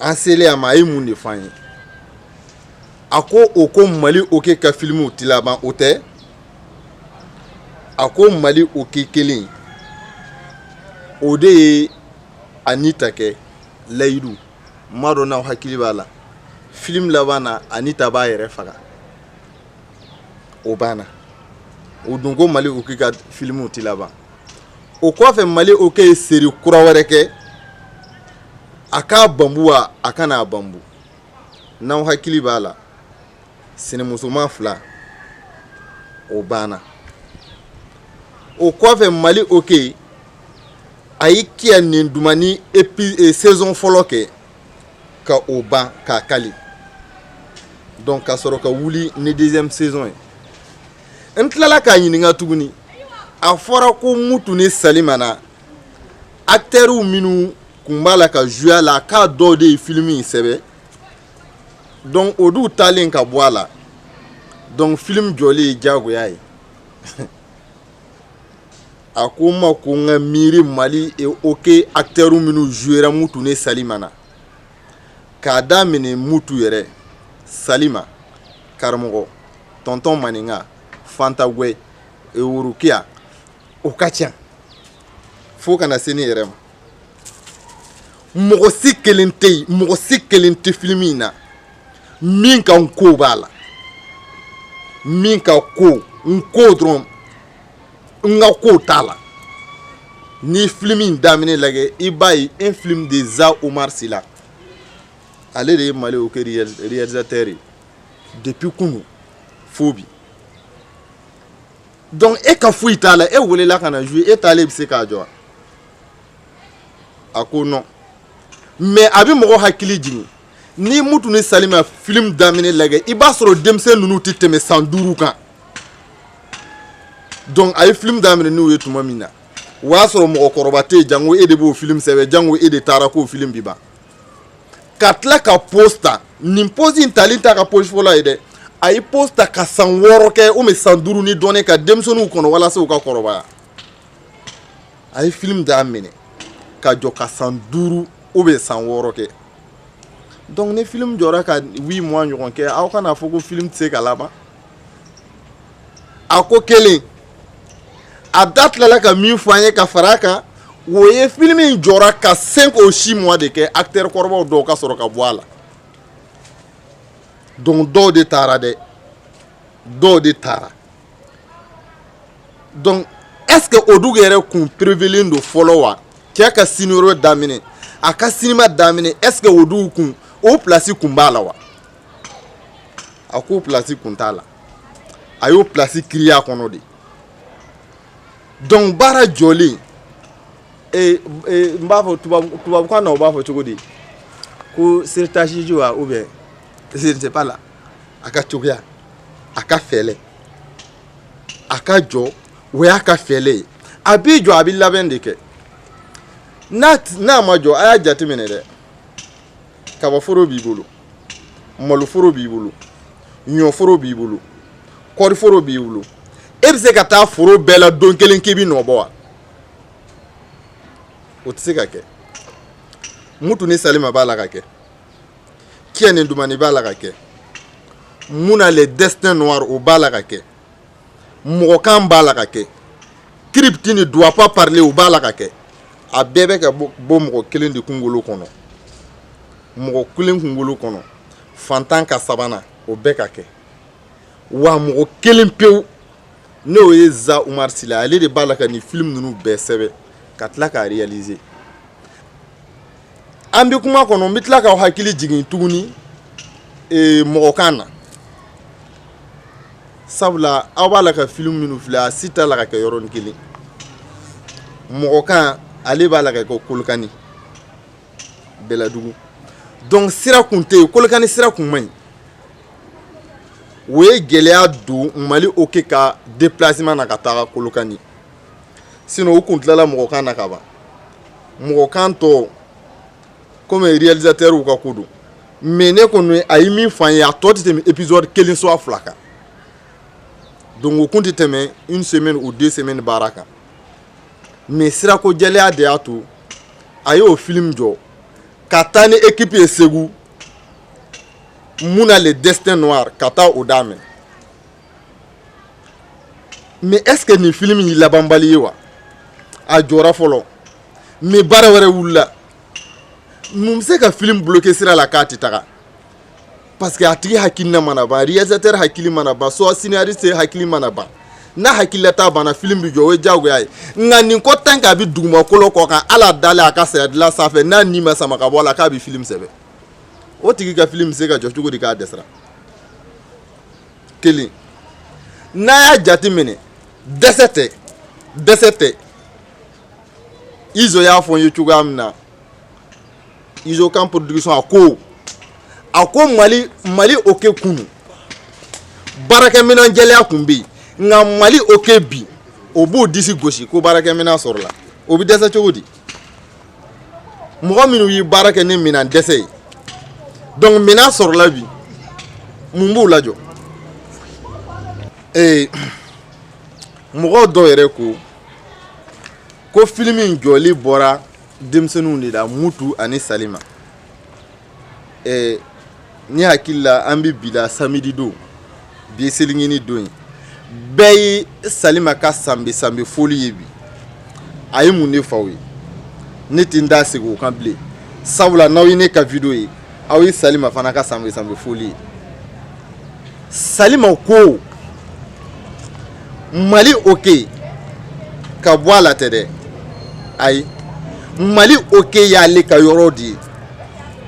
an selen a ma a ye mun de fɔ an ye a ko o ko mali oke ka filimuw ti laban o tɛ a ko mali oke kelen o de ye anita kɛ layidu n m'a dɔn n'aw hakili b'a la filimu laban na anita b'a yɛrɛ faga o banna o dun ko mali oke ka filimuw ti laban o kɔfɛ mali oke ye seri kura wɛrɛ kɛ a k'a banbu wa a kan'a banbu n'aw hakili b'a la sinamusoman fila o banna o kɔfɛ mali oke a ye kiya nin dumani epi e, saison fɔlɔ kɛ ka o ban k'a kali donc ka sɔrɔ ka wuli ni deuxième saison ye n tilala k'a ɲininka tuguni a fɔra ko mutu ni salima na actɛriw minnu kun b'a la ka zuye a la k'a dɔw de ye filimi in sɛbɛn donc o dun taalen ka bɔ a la donc film jɔlen ye diyagoya ye a ko n ma ko n ka miiri mali e oke actɛriw minnu zuyera mutu ni salima na k'a daminɛ mutu yɛrɛ salima karamɔgɔ tɔntɔn maninka fanta gwɛ e worokiya o ka ca fo kana se ne yɛrɛ ma mɔgɔ si kelen tɛ yen mɔgɔ si kelen tɛ filimi in na min ka n ko b'a la min ka ko n ko dɔrɔn n ka ko t'a la n'i filimi in daminɛ lajɛ i b'a ye un film de za omar sila ale de ye mali oke réalisateur ye depuis kunu fo bi donc e ka foyi t'a la e welela ka na jouer e taalen bɛ se k'a jɔ a ko non mais a bɛ mɔgɔ hakili jigin n'i mutu ni salima film daminɛ lagɛ i b'a sɔrɔ denmisɛn ninnu tɛ tɛmɛ san duuru kan donc a ye film daminɛ n'u ye tuma min na o y'a sɔrɔ mɔgɔkɔrɔba tɛ yen jango e de b'o film sɛbɛn jango e de taara k'o film bi ban ka tila ka pause ta nin pause in tali t'a ka pause fɔlɔ ye dɛ a ye pause ta ka san wɔɔrɔ kɛ ou bien san duuru ni dɔɔnin ka denmisɛnninw kɔnɔ walasa u ka kɔrɔbaya a ye film daminɛ ka jɔ ka san duuru ou bien san wɔɔrɔ kɛ donc ni film jɔra ka huit mois ɲɔgɔn kɛ aw kan'a fɔ ko film tɛ se ka laban a ko kelen a da tilala ka min fɔ an ye ka fara a kan o ye film in jɔra ka cinq ou six mois de kɛ acteur kɔrɔbaw dɔw ka sɔrɔ ka bɔ a la donc dɔw de taara dɛ dɔw de taara donc est ce que o dugu yɛrɛ kun prévulen don fɔlɔ wa cɛ ka scénario daminɛ a ka sinima daminɛ est ce que o dugu kun o place kun b'a la wa a k'o place kun t'a la a y'o place créer a kɔnɔ de donc baara jɔlen e, e, n b'a fɔ tubabukan na u b'a fɔ cogo di ko stratégie wa ou bien je sais pas là a ka cogoya a ka fɛɛlɛ a ka jɔ o y'a ka fɛɛlɛ ye a b'i jɔ a bɛ labɛn de kɛ n'a n'a ma jɔ a y'a jateminɛ dɛ kabaforo b'i bolo maloforo b'i bolo ɲɔforo b'i bolo kɔriforo b'i bolo e bɛ se ka taa foro bɛɛ la don kelen k'i bɛ nɔ bɔ wa o tɛ se ka kɛ mutu ni salima b'a la ka kɛ kiya ni dumani b'a la ka kɛ muna le destin noir o b'a la ka kɛ mɔgɔkan b'a la ka kɛ kiripti ne doit pas parler o b'a la ka kɛ a bɛɛ bɛ ka bɔ mɔgɔ kelen de kungolo kɔnɔ mɔgɔ kelen kungolo kɔnɔ fantan ka sabanan o bɛɛ ka kɛ wa mɔgɔ kelen pewu n'o ye za umar sila ale de b'a la ka nin film ninnu bɛɛ sɛbɛn ka tila k'a réaliser an bɛ kuma kɔnɔ n bɛ tila k'aw hakili jigin tuguni ee, mɔgɔkan na sabula aw b'a la ka filimu minnu filɛ a si t'a la ka kɛ yɔrɔnin kelen mɔgɔkan ale b'a la ka kɛ kolokani bɛlɛdugu donc sira kun tɛ yen kolokani sira kun man ɲi o ye gɛlɛya don mali oke ka déplacement na ka taga kolokani sinon u kun tilala mɔgɔkan na ka ban mɔgɔkan tɔ komi réalisateur u ka ko don mais ne kɔni a ye min f'an ye a tɔ tɛ tɛmɛ épisode kelen soit fila kan donc o kun tɛ tɛmɛ une semaine ou deux semaines baara kan mais sirako jɛlɛya de y'a to a y'o film jɔ ka taa ni équipe ye Segu muna le destin noir ka taa o daminɛ mais est ce que nin film in ye labanbali ye wa a jɔra fɔlɔ mais baara wɛrɛ wulila mun bɛ se ka film bloquer sira la k'a tɛ taga parce que a tigi hakilina mana ban réalisateur hakili mana ban soit scénariste hakili mana ban n'a hakililata banna film bɛ jɔ o ye diyagoya ye nka nin ko tant qu'a bɛ dugumakolo kɔ kan hali a dalen a ka saya dilan sanfɛ n'a ni ma sama ka bɔ a la k'a bɛ film sɛbɛn o tigi ka film bɛ se ka jɔ cogo di k'a dɛsɛra kelen n'a y'a jateminɛ dɛsɛ tɛ dɛsɛ tɛ izo y'a fɔ n ye cogoya min na izo kan production a ko a ko mali mali oke kunu baarakɛminɛn gɛlɛya tun bɛ yen nka mali oke bi o b'o disi gosi ko baarakɛminɛn sɔrɔla o bɛ dɛsɛ cogo di mɔgɔ minnu ye baara kɛ ni minɛn dɛsɛ ye donc minɛn sɔrɔla bi mun b'u lajɔ ee mɔgɔ dɔw yɛrɛ ko ko filimu in jɔli bɔra denmisɛnninw de la mutu ani salima ne hakili la an bɛ bi la samidi don bi ye selincinin don ye bɛɛ ye salima ka sanbɛ sanbɛ foli ye bi a ye mun de fɔ aw ye ne tɛ n da segin o kan bilen sabula n'aw ye ne ka video ye aw ye salima fana ka sanbɛ sanbɛ foli ye salima ko mali oke ka bɔ a la tɛ dɛ ayi mali oke y'ale ka yɔrɔ de ye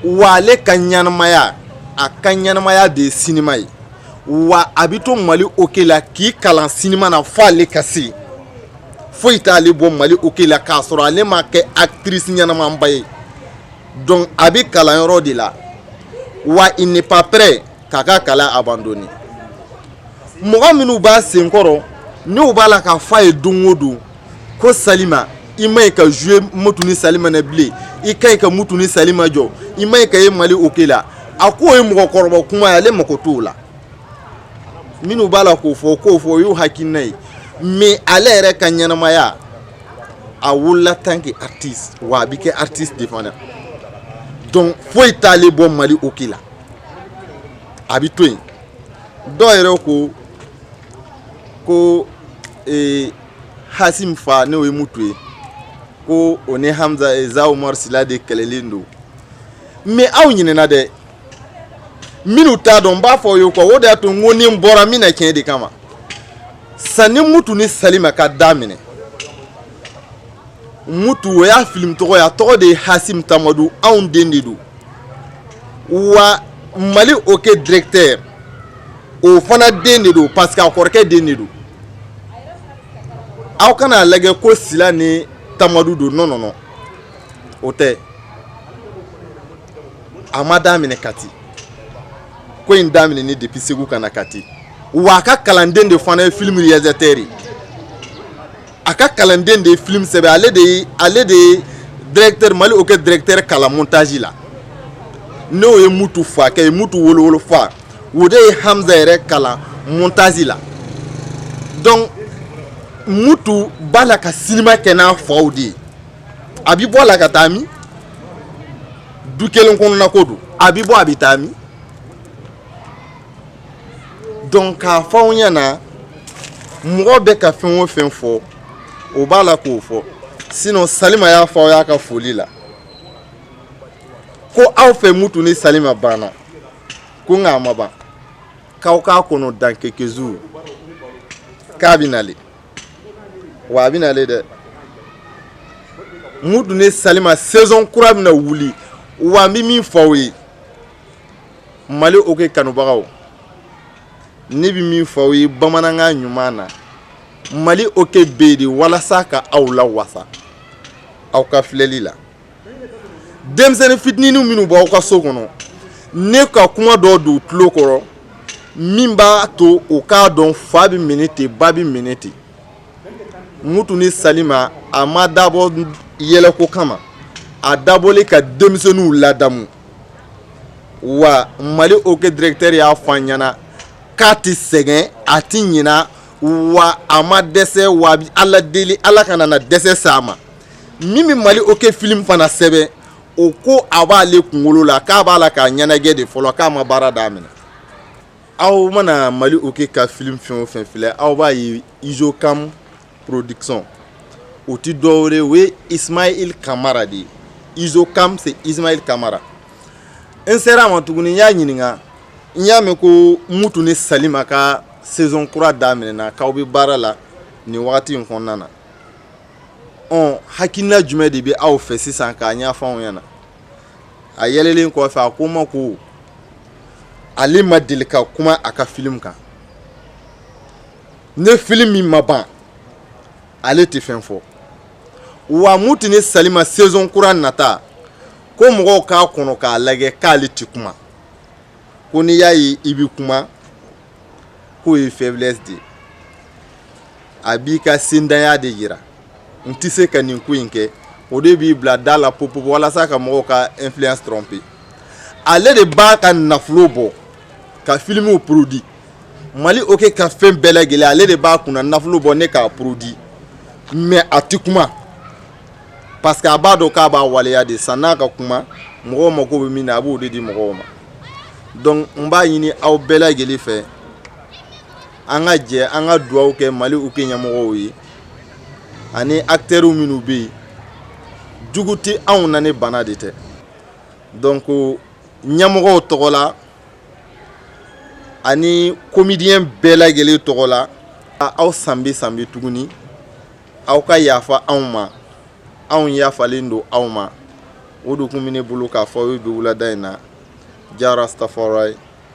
wa ale ka ɲɛnamaya a ka ɲɛnamaya de ye sinima ye wa a bɛ to mali oke la k'i kalan sinima na fo ale ka se foyi t'ale bɔ mali oke la k'a sɔrɔ ale ma kɛ actrice ɲɛnamaba ye donc a bɛ kalanyɔrɔ de la wa il n'est pas prêt k'a ka kalan abandonner mɔgɔ minnu b'a sen kɔrɔ n'u b'a la k'a fɔ a ye don o don ko salima i man ɲi ka jouer mutu ni salima na bilen i ka ɲi ka mutu ni salima jɔ i man ɲi ka ye mali oke la a k'o ye mɔgɔkɔrɔba kuma ye ale mako t'o la minnu b'a la k'o fɔ k'o fɔ o y'u hakilina ye mais ale yɛrɛ ka ɲɛnamaya a wolola en tant que artiste wa a bɛ kɛ artiste de fana donc foyi t'ale bɔ mali oke la a bɛ to yen dɔw yɛrɛ ko ko e, hasim fa n'o ye mutu ye ko o ni hamza e, za umar sila de kɛlɛlen don mais aw ɲinɛna dɛ minnu t'a dɔn n b'a fɔ u ye quoi o de y'a to n ko ni n bɔra n bɛ na tiɲɛ de kama sanni mutu ni salima ka daminɛ mutu o y'a filimu tɔgɔ ye a tɔgɔ de ye hasim tamadu anw den de don wa mali oke directeur o fana den de don parce que a kɔrɔkɛ den de don aw kana a lajɛ ko sila ni tamadu don non non non o tɛ a ma daminɛ kati ko in daminɛnen depuis segu ka na kati wa a ka kalanden de fana ye filimu réalisateur a ka kalanden de ye film sɛbɛn ale de ye ale de ye directeur mali oke directeur kalan montage la n'o ye mutu fakɛ ye mutu wolo wolofa o de ye hamza yɛrɛ kalan montage la donc mutu b'a la ka sinima kɛ n'a faw de ye a bi bɔ a la ka taa min du kelen kɔnɔna ko don a bi bɔ a bi taa min donc k'a fɔ aw ɲɛ na mɔgɔ bɛ ka fɛn o fɛn fɔ o b'a la k'o fɔ sinon salima y'a fɔ aw y'a ka foli la ko aw fɛ mutu ni salima banna ko nka a ma ban k'aw k'a kɔnɔ dans quelques jours k'a bɛ na le wa a bɛ na le dɛ mutu ni salima saison kura bɛna wuli wa n bɛ min fɔ aw ye mali oke kanubagaw ne bɛ min fɔ aw ye bamanankan ɲuman na mali oke bɛ yen de walasa ka aw lawasa aw ka filɛli la denmisɛnnin fitininw minnu b'aw ka so kɔnɔ ne ka kuma dɔ don u tulo kɔrɔ min b'a to u k'a dɔn fa bɛ minɛ ten ba bɛ minɛ ten mutu ni salima a ma dabɔ yɛlɛko kama a dabɔlen ka denmisɛnninw ladamu wa mali oke directeur y'a fɔ an ɲɛ na k'a tɛ sɛgɛn a tɛ ɲina wa a ma dɛsɛ wa a bi ala deli ala kana na dɛsɛ s'a ma min bɛ mali oke film fana sɛbɛn o ko a b'ale kunkolo la k'a b'a la k'a ɲɛnajɛ de fɔlɔ k'a ma baara daminɛ aw mana mali oke ka film fɛn o fɛn filɛ aw b'a ye izo kam production o ti dɔwɛrɛ o ye ismail kamara de ye izo kam c'est ismail kamara n sera a ma tuguni n y'a ɲininka n y'a mɛn ko mutu ni salima ka saison kura daminɛna k'aw bɛ baara la nin wagati in kɔnɔna na ɔn hakilina jumɛn de bɛ aw fɛ sisan k'a ɲɛfɔ anw ɲɛna a yɛlɛlen kɔfɛ a ko n ma ko ale ma deli ka kuma a ka filimu kan ni film min ma ban ale tɛ fɛn fɔ wa mutu ni salima saison kura nata ko mɔgɔw k'a kɔnɔ k'a lajɛ k'ale tɛ kuma ko n'i y'a ye i bɛ kuma k'o ye faiblesse de ye a b'i ka sendanya de yira n tɛ se ka nin ko in kɛ o de b'i bila da la popo walasa ka mɔgɔw ka influence tromper ale de b'a ka nafolo bɔ ka filimuw produit mali oke ka fɛn bɛɛ lajɛlen ale de b'a kunna nafolo bɔ ni k'a produit mais a tɛ kuma parce que a b'a dɔn k'a b'a waleya de sann'a ka kuma mɔgɔw mako bɛ min na a b'o de di mɔgɔw ma donc n b'a ɲini aw bɛɛ lajɛlen fɛ an ka jɛ an ka dugawu kɛ mali oke ɲɛmɔgɔw ye ani aktɛriw minnu bɛ yen jugu tɛ anw na ni bana de tɛ donc ɲɛmɔgɔw tɔgɔ la ani komidiyɛn bɛɛ lajɛlen tɔgɔ la aw sanbɛ sanbɛ tuguni aw ka yafa anw ma anw yafalen don aw ma o de tun bɛ ne bolo k'a fɔ aw ye bi wulada in na jah rastafari